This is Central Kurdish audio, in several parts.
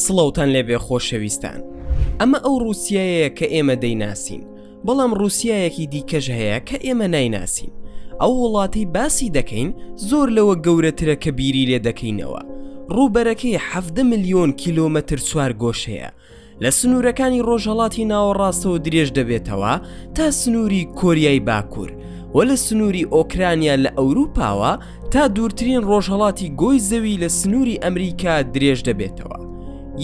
سڵاوتان لێبێ خۆشەویستان ئەمە ئەو رووسایەیە کە ئێمە دەیناسین بەڵام رووسایەکی دیکەش هەیە کە ئێمە نایناسین ئەو وڵاتی باسی دەکەین زۆر لەوە گەورەترە کە بیری لێ دەکەینەوە ڕووبەرەکەی حەفدە ملیۆن کیلۆمەتر چوار گۆشەیە لە سنوورەکانی ڕۆژهەڵاتی ناوەڕاستەوە درێژ دەبێتەوە تا سنووری کۆریای باکوور و لە سنووری ئۆکرانیا لە ئەوروپاوە تا دوورترین ڕۆژهەڵاتی گۆی زەوی لە سنووری ئەمریکا درێژ دەبێتەوە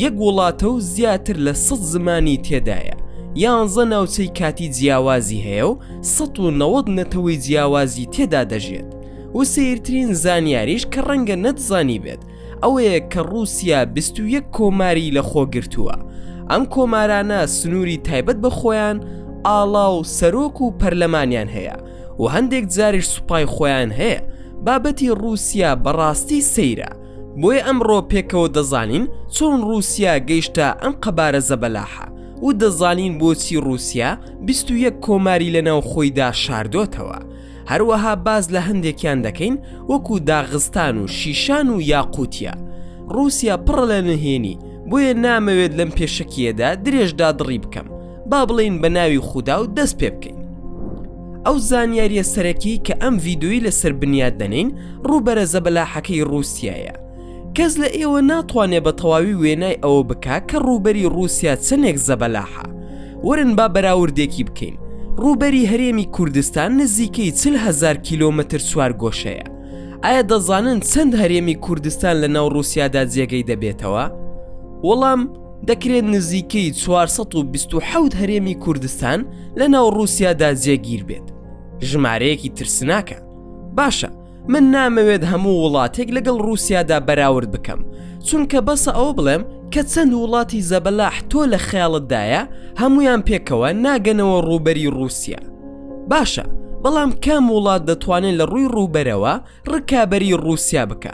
یەک وڵاتە و زیاتر لە سە زمانی تێدایە یانزە ناوچەی کاتی جیاوازی هەیە و 1970 نەتەوەی جیاوازی تێدا دەژێت و سیرترین زانیاریش کە ڕەنگە نەتزانی بێت ئەوەیە کە ڕووسیا بیست و یەک کۆماری لە خۆ گرتووە ئەم کۆمارانە سنووری تایبەت بە خۆیان ئاڵا و سەرۆک و پەرلەمانیان هەیە و هەندێک جاریش سوپای خۆیان هەیە بابەتی ڕووسیا بەڕاستی سەیرە بۆیە ئەمڕۆ پێکەوە دەزانین چۆن ڕووسیا گەیشتە ئەم قەبارە زەبەلاحە و دەزانین بۆچی ڕووسیا بیست و یەک کۆماری لەناو خۆیدا شاردۆتەوە هەروەها باس لە هەندێکیان دەکەین وەکو داغستان و شیشان و یاقوتیا رووسیا پڕ لە نهێنی بۆیە نامەوێت لەم پێشەکیەدا درێژدا دڕی بکەم با بڵین بە ناوی خودا و دەست پێ بکەین ئەو زانیاریە سەرەکی کە ئەم ڤیددیوی لەسەر بنیاد دەنین ڕووبەرە زەبەلاحەکەی رووسایە کەس لە ئێوە ناتوانێ بە تەواوی وێنای ئەوە بکا کە ڕووبەری ڕووسیا چەندێک زەبەلاحە ورن با بەراوردێکی بکەین ڕووبەری هەرێمی کوردستان نزیکەی چل هزار کیلۆمەتر چوار گۆشەیە ئایا دەزانن چەند هەرێمی کوردستان لە ناو ڕووسیادا جێگەی دەبێتەوە وەڵام دەکرێت نزیکەی 427 هەرێمی کوردستان لە ناو ڕووسیادا جێگیر بێت ژمارەیەکی ترسناکە باشە من نامەوێت هەموو وڵاتێک لەگەڵ رووسیادا بەراورد بکەم چونکە بەسە ئەوە بڵێم کە چەند وڵاتی زەبەلاح تۆ لە خەیاڵتدایە هەمویان پێکەوە ناگەنەوە ڕووبەری رووسیا باشە بەڵام کام وڵات دەتوانێت لە ڕووی ڕووبەرەوە ڕکابەری رووسیا بکە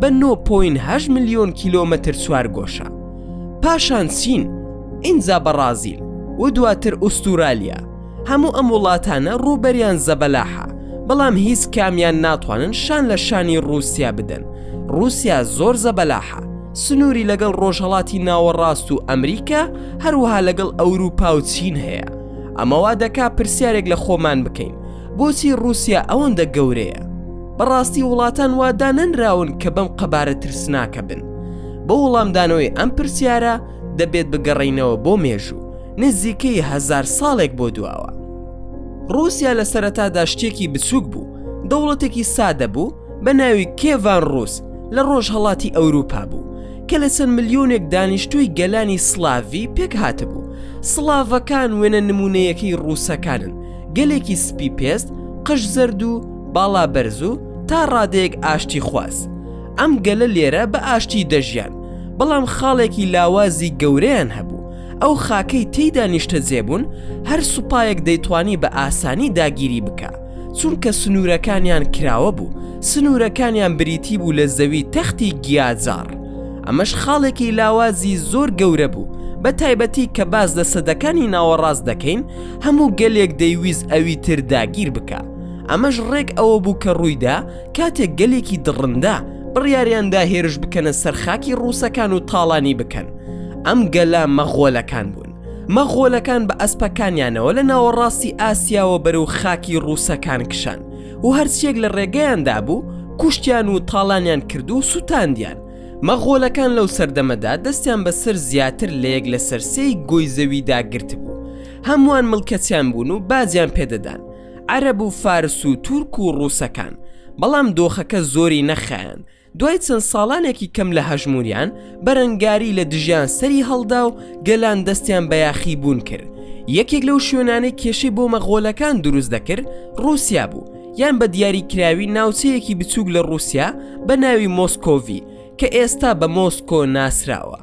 بە 9.8 ملیۆن کیلۆمەتر چوارگۆشە پاشان چین ئینجا بەڕازیل و دواتر ئوستورالیا هەموو ئەم وڵاتانە ڕووبەریان زەبەلاحە بەڵام هیچ کامیان ناتوانن شان لە شانی رووسیا بدەن رووسیا زۆر زەبەلاحە سنووری لەگەڵ ڕۆژهڵاتی ناوەڕاست و ئەمریکا هەروەها لەگەڵ ئەوروپا و چین هەیە ئەمەوا دەکا پرسیارێک لە خۆمان بکەین بۆچی ڕوسیا ئەوەندە گەورەیە؟ بەڕاستی وڵاتان وا دانەنراون کە بەم قەبارە ترسناکە بن؟ بۆ وڵامدانەوەی ئەم پرسیارە دەبێت بگەڕێینەوە بۆ مێژوو نزیکەی هەزار ساڵێک بۆ دواوە. ڕوسیا لە سەرەتادا شتێکی بچووک بوو، دەوڵەتێکی سادە بوو بە ناوی کێڤان ڕوس لە ڕۆژهەڵاتی ئەوروپا بوو کە لە چەند ملیۆنێک دانیشتووی گەلانی سلاڤی پێکهاتبوو. سڵاڤەکان وێنە نموونەیەکەی ڕوسەکانن، گەلێکی سپی پێست قژ زەرد و باڵا بەرز و تا ڕادەیەک ئاشتی خواز ئەم گەلە لێرە بە ئاشتی دەژیان بەڵام خاڵێکی لاوازی گەورەیان هەبوو ئەو خاکەی تێیدا نیشتە جێبوون هەر سوپایەک دەیتوانی بە ئاسانی داگیری بکە چونکە سنوورەکانیان کراوە بوو سنوورەکانیان بریتی بوو لە زەوی تەختی گیاجار ئەمەش خاڵێکی لاوازی زۆر گەورە بوو بە تایبەتی کە باز لە سەدەکانی ناوەڕاست دەکەین هەموو گەلێک دەیویست ئەوی تر داگیر بکا ئەمەش ڕێک ئەوە بوو کە ڕوویدا کاتێک گەلێکی دڕندە بڕیاریاندا هێرش بکەنە سەر خاکی ڕووسەکان و تاڵانی بکەن ئەم گەلە مەغۆلەکان بوون مەغۆلەکان بە ئەسپەکانیانەوە لە ناوەڕاستی ئاسیاوە بەرەو خاکی ڕووسەکان کشان و هەرچیەک لە ڕێگەیاندا بوو کوشتیان و تاڵانیان کرد و سووتاندیان مەغۆلەکان لەو سەردەمەدا دەستیان بەسەر زیاتر لە یەک لەسەر سێی گۆی زەویدا گرتبوو هەمووان ملکەچیان بوون و باجیان پێدەدان عەرەب و فارس و تورک و ڕووسەکان بەڵام دۆخەکە زۆری نەخایەن دوای چەند ساڵانێکی کەم لە هەژموریان بەرەنگاری لە دژیان سەری هەڵدا و گەلان دەستیان بە یاخی بوون کرد یەکێک لەو شوێنانەی کێشەی بۆ مەغۆلەکان دروست دەکرد ڕووسیا بوو یان بە دیاریکراوی ناوچەیەکی بچووک لە ڕووسیا بە ناوی مۆسکۆڤی کە ئێستا بە مۆسکۆ ناسراوە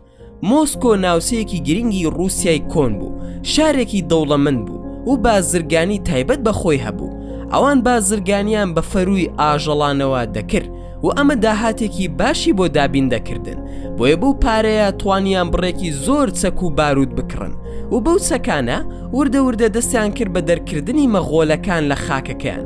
مۆسکۆ ناوچەیەکی گرنگی ڕووسای کۆن بوو شارێکی دەوڵەمن بوو و بازرگانی تایبەت بە خۆی هەبوو ئەوان بازرگانیان بە فەرووی ئاژەڵانەوە دەکرد و ئەمە داهاتێکی باشی بۆ دابین دەکردن بۆیە بەو پارەیە توانیان بڕێکی زۆر چەک و بارود بکڕن و بەو چەکانە وردە وردە دەستیان کرد بە دەرکردنی مەغۆلەکان لە خاکەکەیان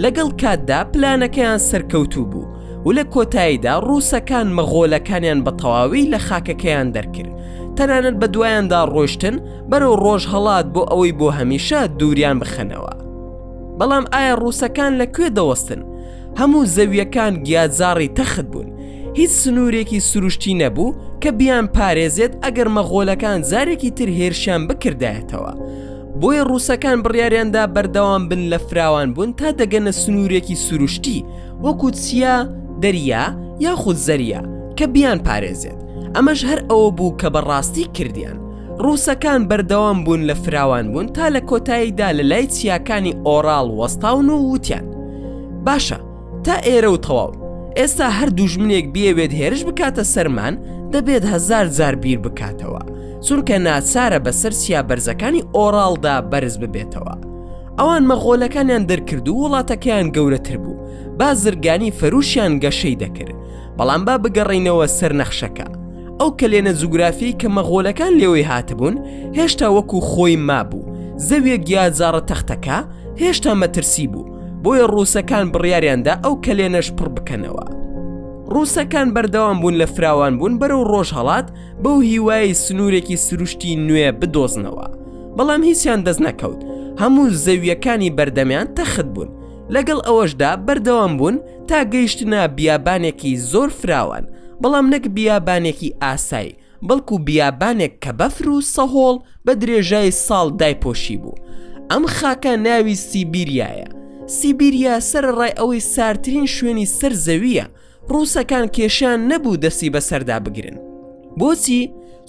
لەگەڵ کاتدا پلانەکەیان سەرکەوتوو بوو و لە کۆتاییدا ڕووسەکان مەغۆلەکانیان بە تەواوی لە خاکەکەیان دەرکرد تەنانەت بە دوایاندا ڕۆشتن بەرەو ڕۆژ هەڵات بۆ ئەوەی بۆ هەمیشە دووریان بخەنەوە بەڵام ئایا ڕووسەکان لە کوێ دەوەستن هەموو زەویەکان گیاجاڕی تەخت بوون هیچ سنوورێکی سروشتی نەبوو کە بیان پارێزێت ئەگەر مەغۆلەکان جارێکی تر هێرشیان بکردایەتەوە بۆیە ڕووسەکان بڕیاریاندا بەردەوام بن لە فراوان بوون تا دەگەنە سنوورێکی سروشتی وەکو چیا دەریا یاخود زەریا کە بیان پارێزێت ئەمەش هەر ئەوە بوو کە بەڕاستی کردیان ڕووسەکان بەردەوام بوون لە فراوان بوون تا لە کۆتاییدا لە لای چیاکانی ئۆراڵ وەستاون و وتیان باشە تا ئێرە و تەواو ئێستا هەر دوژمنێک بیەوێت هێرش بکاتە سەرمان دەبێت هزار جار بیر بکاتەوە چونکە ناچارە بەسەر سیا بەرزەکانی ئۆراڵدا بەرز ببێتەوە ئەوان مەغۆلەکانیان دەرکرد و وڵاتەکەیان گەورەتر بوو بازرگانی فەروشیان گەشەی دەکرد بەڵام با بگەڕینەوە سەر نەخشەکە ئەو کەلێنە جوگرافی کە مەغۆلەکان لێوەی هاتبوون هێشتا وەکو خۆی مابوو زەویەک یا جاڕە تەختەکە هێشتا مەترسی بوو بۆیە ڕووسەکان بڕیاریاندا ئەو کەلێنەش پڕ بکەنەوە ڕووسەکان بەردەوام بوون لە فراوان بوون بەرەو ڕۆژ هەڵات بەو هیوای سنوورێکی سروشتی نوێ بدۆزنەوە بەڵام هیچیان دەست نەکەوت هەموو زەویەکانی بەردەمیان تەخت بوون لەگەڵ ئەوەشدا بەردەوام بوون تا گەیشتنە بیابانێکی زۆر فراوان بەڵام نەک بیابانێکی ئاسای بەڵکو بیابانێک کە بەفر و سەهۆڵ بە درێژای ساڵ دایپۆشی بوو ئەم خاکە ناوی سیبیریایە سیبیریا سەرڕای ئەوەی سارترین شوێنی سەر زەویە ڕووسەکان کێشان نەبوو دەسی بەسەردا بگرن بۆچی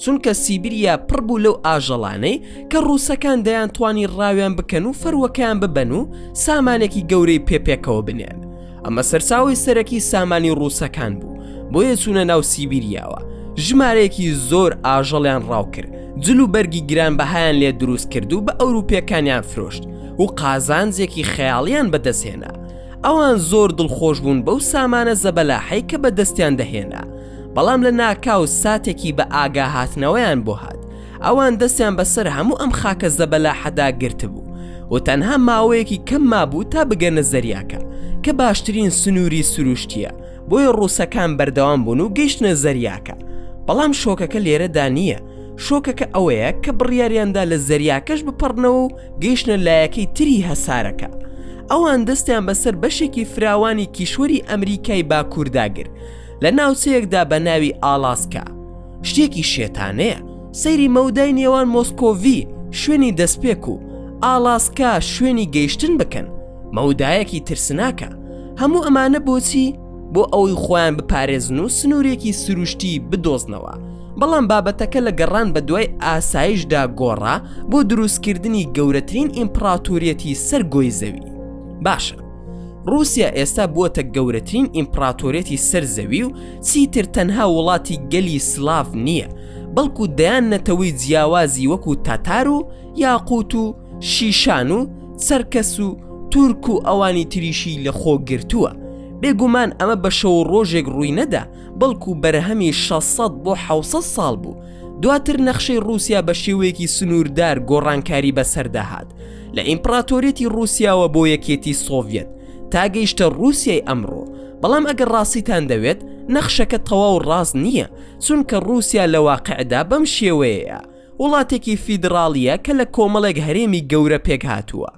چونکە سیبریا پڕ بوو لەو ئاژەڵانەی کە ڕووسەکان دەیان توانی ڕاویان بکەن و فەروەکەیان ببەن و سامانێکی گەورەی پێپێکەوە بنێن ئەمە سەرچاوی سەرەکی سامانی ڕووسەکان بوو بۆیە چوونە ناو سیبیریاوە ژمارەیەکی زۆر ئاژەڵیان ڕاوکرد جل و بەرگی گران بەهایان لێ دروست کرد و بە ئەوروپیەکانیان فرۆشت و قازانجێکی خەیاڵیان بەدەستهێنا ئەوان زۆر دڵخۆش بوون بەو سامانە زەبەلاحەی کە بەدەستیان دەهێنا بەڵام لە ناکاو ساتێکی بە ئاگا هاتنەوەیان بۆ هات ئەوان دەستیان بەسەر هەموو ئەم خاکە زەبەلاحەدا گرتبوو و تەنها ماوەیەکی کەم مابوو تا بگەنە زەریاکە کە باشترین سنووری سروشتیە بۆیە ڕووسەکان بەردەوام بوون و گەیشتە زەریاکە بەڵام شۆکەکە لێرەدا نییە شۆکەکە ئەوەیە کە بڕیاریاندا لە زەریاکەش بپەڕنەوە و گەیشتە لایەکەی تری هەسارەکە ئەوان دەستیان بەسەر بەشێکی فراوانی کیشوەری ئەمریکای باکوورداگر لە ناوچەیەکدا بە ناوی ئالاسکا شتێکی شێتانەیە سەیری مەودای نێوان مۆسکۆڤی شوێنی دەستپێک و ئالاسکا شوێنی گەیشتن بکەن مەودایەکی ترسناکە هەموو ئەمانە بۆچی بۆ ئەوەی خۆیان بپارێزن و سنوورێکی سروشتی بدۆزنەوە بەڵام بابەتەکە لە گەڕان بە دوای ئاسایشدا گۆڕا بۆ دروستکردنی گەورەترین ئیمپراتوریەتی سەر گۆی زەوی باشە ڕوسیا ئێستا بووەتە گەورەترین ئیمپراتۆرێتی سەر زەوی و چیتر تەنها وڵاتی گەلی سلااف نییە بەڵکو دەیان نەتەوەی جیاوازی وەکو تاتار و یاقووت و شیشان و سەرکەس و تورک و ئەوانی تریشی لە خۆ گرتووە بێگومان ئەمە بە شەو ڕۆژێک ڕووی نەدا بەڵکو بەرهەمی 600 بۆ 600 ساڵ بوو دواتر نەخشەی ڕوسیا بە شێوەیەکی سنووردار گۆڕانکاری بەسەرداهات لە ئیمپڕاتۆریەتی ڕووسیاوە بۆ یەکێتی سۆڤەت تا گەیشتە ڕووسیای ئەمڕۆ بەڵام ئەگەر ڕاستیتان دەوێت نەخشەکە تەواو ڕاست نییە چونکە ڕووسیا لە واقعدا بەم شێوەیەیە وڵاتێکی فیدراڵیە کە لە کۆمەڵێک هەرێمی گەورە پێک هاتووە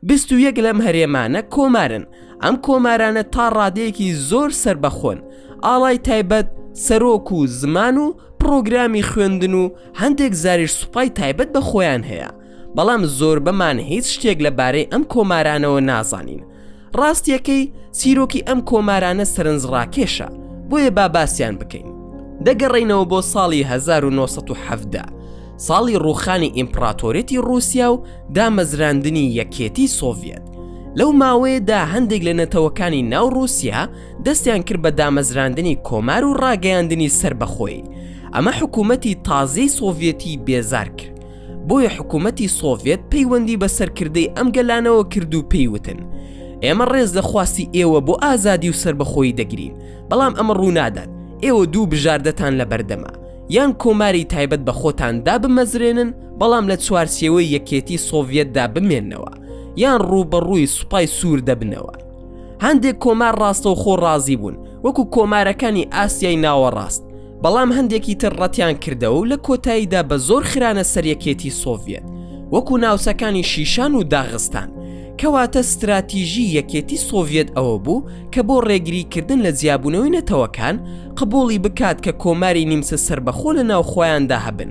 بیست و یەک لەم هەرێمانە کۆمارن ئەم کۆمارانە تا ڕادەیەکی زۆر سربەخۆن ئاڵای تایبەت سەرۆک و زمان و پڕۆگرامی خوێندن و هەندێک زاریش سوپای تایبەت بە خۆیان هەیە بەڵام زۆربەمان هیچ شتێک لە بارەی ئەم کۆمارانەوە نازانین ڕاستیەکەی چیرۆکی ئەم کۆمارانە سەرنجڕاکێشە بۆیە با باسییان بکەین دەگەڕینەوە بۆ ساڵی 1970 ساڵی ڕوخانی ئیمپراتۆرێتی رووسیا و دامەزراندنی یەکێتی سۆڤەت لەو ماوەیەدا هەندێک لە نەتەوەکانی ناو رووسیا دەستیان کرد بە دامەزراندنی کۆمار و ڕاگەیاندنی سربەخۆی ئەمە حکوومەتی تازەی سۆڤەتی بێزار کرد بۆیە حکوومەتی سۆڤێت پەیوەندی بە سەرکردەی ئەم گەلانەوە کرد و پێیوتن ئێمە ڕێز لە خواستی ئێوە بۆ ئازادی و سربەخۆی دەگرین بەڵام ئەمە ڕوونادات ئێوە دوو بژاردەتان لە بەردەما یان کۆماری تایبەت بە خۆتان دابمەزرێنن بەڵام لە چوارچێوەی یەکێتی سۆڤەتدا بمێنەوە یان ڕووبەڕووی سوپای سوور دەبنەوە هەندێک کۆمار ڕاستەوخۆ ڕازی بوون وەکو کۆمارەکانی ئاسیای ناوەڕاست بەڵام هەندێکی تر ڕەتیان کردەوە و لە کۆتاییدا بە زۆر خرانە سەر یەکێتی سۆڤیەت وەکو ناوچەکانی شیشان و داغستان کەواتە ستراتیژی یەکێتی سۆڤیەت ئەوە بوو کە بۆ ڕێگری کردن لە جیابوونەوەی نەتەوەکان قبوڵی بکات کە کۆماری نیمچە سربەخۆ لە ناوخۆیاندا هەبن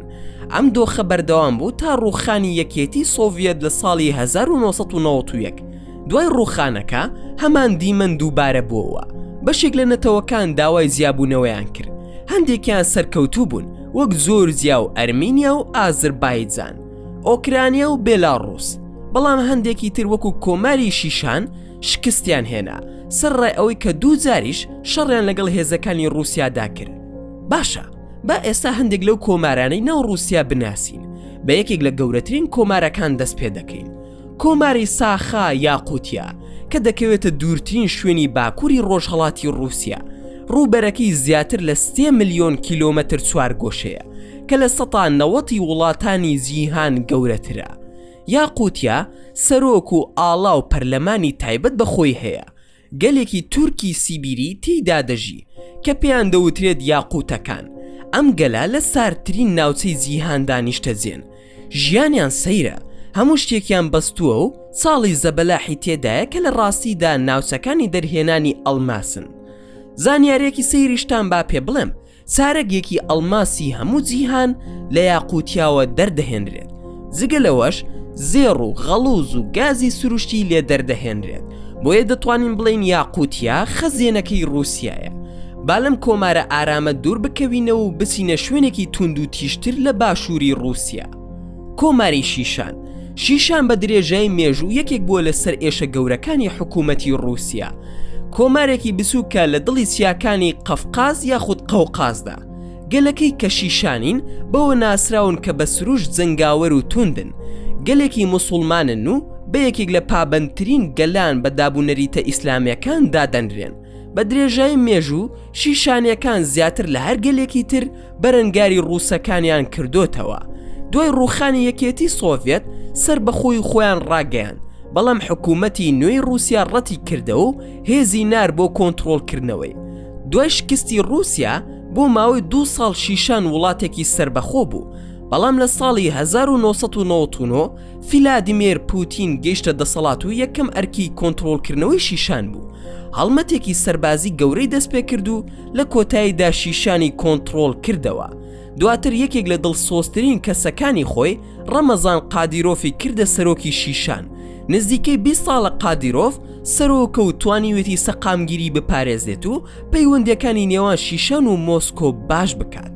ئەم دۆخە بەردەوام بوو تا ڕووخانی یەکێتی سۆڤیەت لە ساڵی 1991 دوای ڕووخانەکە هەمان دیمەن دووبارە بۆوە بەشێک لە نەتەوەکان داوای زیابوونەوەیان کرد هەندێکیان سەرکەوتوو بوون وەک زۆرزیا و ئەرمینیا و ئازربایجان ئۆکرانیا و بێلاڕوس بەڵام هەندێکی تر وەکو کۆماری شیشان شکستیان هێنا سەر ڕای ئەوەی کە دوو جاریش شەڕیان لەگەڵ هێزەکانی رووسیادا کرد باشە با ئێستا هەندێک لەو کۆمارانەی ناو رووسیا بناسین بە یەکێک لە گەورەترین کۆمارەکان دەست پێ دەکەین کۆماری ساخا یاقوتیا کە دەکەوێتە دوورترین شوێنی باکووری ڕۆژهەڵاتی ڕووسیا، ڕووبەرەکەی زیاتر لە سێ ملیۆن کیلۆمەتر چوارگۆشەیە کە لە سەتا نەوەتی وڵاتانی جیهان گەورەترە. یاقوتیا سەرۆک و ئاڵا و پەرلەمانی تایبەت بە خۆی هەیە، گەلێکی تورکی سیبیری تێیدا دەژی کە پێیان دەوترێت یاقووتەکان، ئەم گەلە لە ساردترین ناوچەی جیهاندا نیشتەجێن، ژیانیان سەیرە، هەموو شتێکیان بەستووە و چاڵی زەبەلاحی تێدایە کە لە ڕاستیدا ناوچەکانی دەرهێنانی ئەڵماسن. زانیارییەکی سەیریشتان با پێ بڵێم، چارەگێکی ئەڵماسی هەموو جیهان لە یاقوتیاوە دەردەهێنرێت جگە لەوەش زێڕ و غەڵوز و گازی سروشتی لێ دەردەهێنرێت بۆیە دەتوانین بڵین یاقوتیا خەزێنەکەی رووسایە با لەم کۆمارە ئارامە دوور بکەوینەوە و بچینە شوێنێکی توند و تیژتر لە باشووری رووسیا کۆماری شیشان شیشان بە درێژای مێژوو یەکێک بووە لە سەر ئێشە گەورەکانی حکوومەتی رووسیا کۆمارێکی بسووکە لە دڵی چیاکانی قەفقاز یاخود قەوقازدا گەلەکەی کە شیشانین بەوە ناسراون کە بە سروش جەنگاوەر و توندن گەلێکی مسلمانن و بە یەکێک لە پابندترین گەلان بە دابوونەریتە ئیسلامەکان دادەنرێن بە درێژای مێژوو شیشانەکان زیاتر لە هەرگەلێکی تر بەرەنگاری ڕووسەکانیان کردۆتەوە دوای ڕوخانی یەکێتی سۆڤێت سەر بەخۆی خۆیان ڕاگەیان بەڵام حکوومەتی نوێی رووسیا ڕەتی کردەوە و هێزی نار بۆ کۆنتترۆلکردنەوەی دوای شکستی رووسیا بۆ ماوەی دو ساڵ شیشان وڵاتێکی سربەخۆ بوو بەڵام لە ساڵی 1990 فیلادیمێر پوتین گەیشتە دەسەڵات و یەکەم ئەرکی کۆنتترۆلکردنەوەی شیشان بوو هەڵمەتێکی سەربازی گەورەی دەست پێ کرد و لە کۆتاییدا شیشانی کۆنتڕۆڵ کردەوە دواتر یەکێک لە دڵسۆزترین کەسەکانی خۆی ڕەمەزان قادیرۆفی کردە سەرۆکی شیشان نزیکەی 20 ساڵە قادیرۆف سەرۆکە و توانیوێتی سەقامگیری بپارێزێت و پەیوەندەکانی نێوان شیشان و مۆسکۆ باش بکات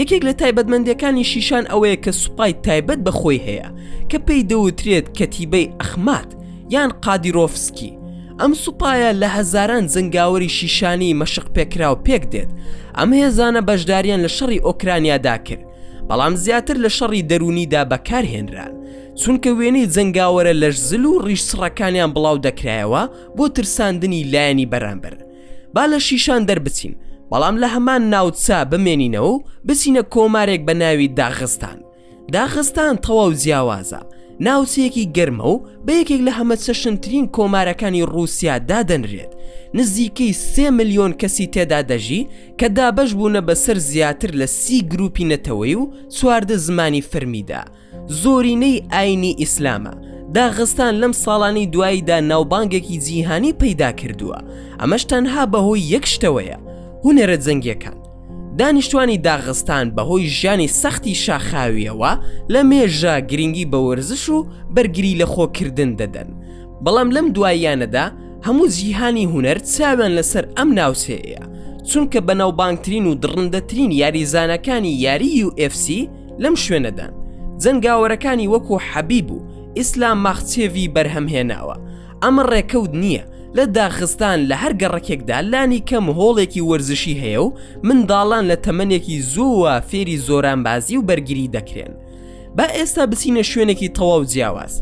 یەکێک لە تایبەتمەندیەکانی شیشان ئەوەیە کە سوپای تایبەت بە خۆی هەیە کە پێی دەوترێت کەتیبەی ئەخمات یان قادیرۆفسکی ئەم سوپایە لە هەزاران جەنگاوەری شیشانی مەشق پێکراو پێک دێت ئەم هێزانە بەشداریان لە شەڕی ئۆکرانیادا کرد بەڵام زیاتر لە شەڕی دەرونیدا بەکارهێنران چونکە وێنەی جەنگاوەرە لەش زل و ڕیش سڕەکانیان بڵاو دەکرایەوە بۆ ترساندنی لایەنی بەرامبەر با لە شیشان دەربچین بەڵام لە هەمان ناوچە بمێنینەوە و بچینە کۆمارێک بە ناوی داغستان داغستان تەواو جیاوازە ناوچەیەکی گەرمە و بە یەکێک لە هەمە چەشنترین کۆمارەکانی رووسیا دادەنرێت نزیکەی سێ ملیۆن کەسی تێدا دەژی کە دابەش بوونە بەسەر زیاتر لە سی گروپی نەتەوەی و چواردە زمانی فەرمیدا زۆرینەی ئاینی ئیسلامە داغستان لەم ساڵانی دواییدا ناوبانگێکی جیهانی پەیدا کردووە ئەمەش تەنها بەهۆی یەک شتەوەیە هونەرە جەنگیەکان دانیشتوانی داغستان بەهۆی ژیانی سەختی شاخاویەوە لە مێژە گرنگی بە وەرزش و بەرگری لە خۆکردن دەدەن بەڵام لەم دواییانەدا هەموو جیهانی هونەر چاویان لەسەر ئەم ناوچەیە چونکە بەناوبانگترین و دڕندەترین یاریزانەکانی یاری UFC لەم شوێنەدا جەنگاوەرەکانی وەکو حەبیب و ئیسلام ماخچێڤی بەرهەم هێناوە ئەمە ڕێکەوت نییە لە داخستان لە هەر گەڕەکێکدا لانی کەم هۆڵێکی وەرزشی هەیە و منداڵان لە تەمەنێکی زووە فێری زۆرانبازی و بەرگری دەکرێن با ئێستا بچینە شوێنێکی تەواو جیاواز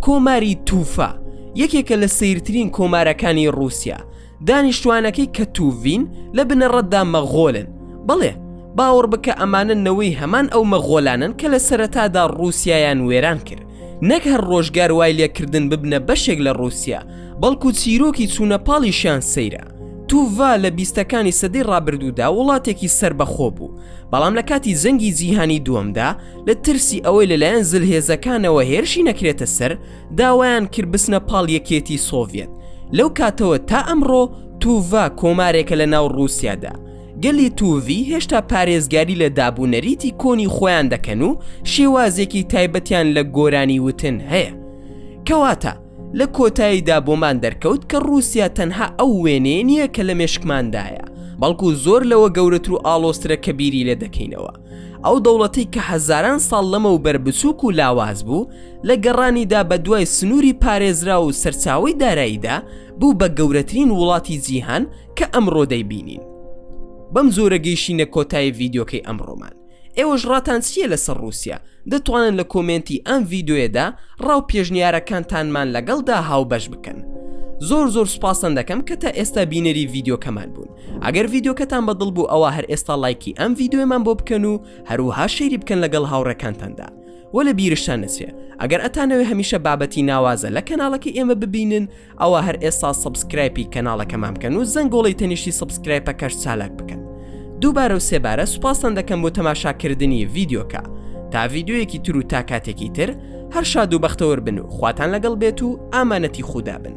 کۆماری تووفا یەکێکە لە سیرترین کۆمارەکانی رووسیا دانیشتوانەکەی کە توڤین لە بنەڕەتدا مەغۆلن، بەڵێ، باوەڕ بکە ئەمانە نەوەی هەمان ئەو مەغۆلانەن کە لە سەرەتادا ڕووسیایان وێران کرد، نەک هەر ڕۆژگار وای لێ کردن ببنە بەشێک لە ڕووسیا، بەڵکو چیرۆکی چوونە پاڵیشیان سەیرە. توڤا لە بیستەکانی سەدەی ڕابردوودا وڵاتێکی سەربەخۆ بوو، بەڵام لە کاتی جەنگی جیهانی دووەمدا لە ترسی ئەوەی لەلایەن زلهێزەکانەوە هێرشی نەکرێتە سەر، داوایان کرد بچنە پاڵ یەکێتی سۆڤیەت لەو کاتەوە تا ئەمڕۆ توڤا کۆمارێکە لە ناو ڕووسیادا گەلی توڤی هێشتا پارێزگاری لە دابوونەریتی کۆنی خۆیان دەکەن و شێوازێکی تایبەتیان لە گۆرانی وتن هەیە کەواتە لە کۆتاییدا بۆمان دەرکەوت کە ڕووسیا تەنها ئەو وێنەیە نییە کە لە مێشکماندایە بەڵکو زۆر لەوە گەورەتر و ئاڵۆزترە کە بیری لێ دەکەینەوە ئەو دەوڵەتەی کە هەزاران ساڵ لەمەوبەر بچووک و لاواز بوو لە گەڕانیدا بە دوای سنووری پارێزرا و سەرچاوەی داراییدا بوو بە گەورەترین وڵاتی جیهان کە ئەمڕۆ دەیبینین بەم جۆرە گەیشتینە کۆتایی ڤیددیوکەی ئەمڕۆمان ئێوەش ڕاتان چییە لەسەر رووسیا دەتوانن لە کۆمێنتی ئەم ڤیددیوێدا ڕاو پێشنیارەکانتانمان لەگەڵدا هاوبەش بکەن زۆر زۆر سوپاستان دەکەم کە تا ئێستا بینەری ڤیددیوکەمان بوون ئەگەر ڤیدۆکەتان بە دڵ بوو ئەوا هەر ئێستا لایکی ئەم ڤیدۆیەمان بۆ بکەن و هەروها شەیری بکەن لەگەڵ هاوڕێکانتاندا وە لە بیرشتان نەچێ ئەگەر ئەتانەوێ هەمیشە بابەتی ناوازە لە کەناڵەکە ئێمە ببینن ئەوە هەر ئێستا سەبسکرایپی کەناڵەکەمان بکەن و زەنگۆڵی تەنیشتی سەبسکرایپەکەش چالاک بکەن دووبارە و سێبارە سوپاستان دەکەم بۆ تەماشاکردنی ڤیدۆکە تا ڤیددیویەکی تر و تا کاتێکی تر هەر شاد و بەختەوەر بن و خواتان لەگەڵ بێت و ئامانەتی خودا بن.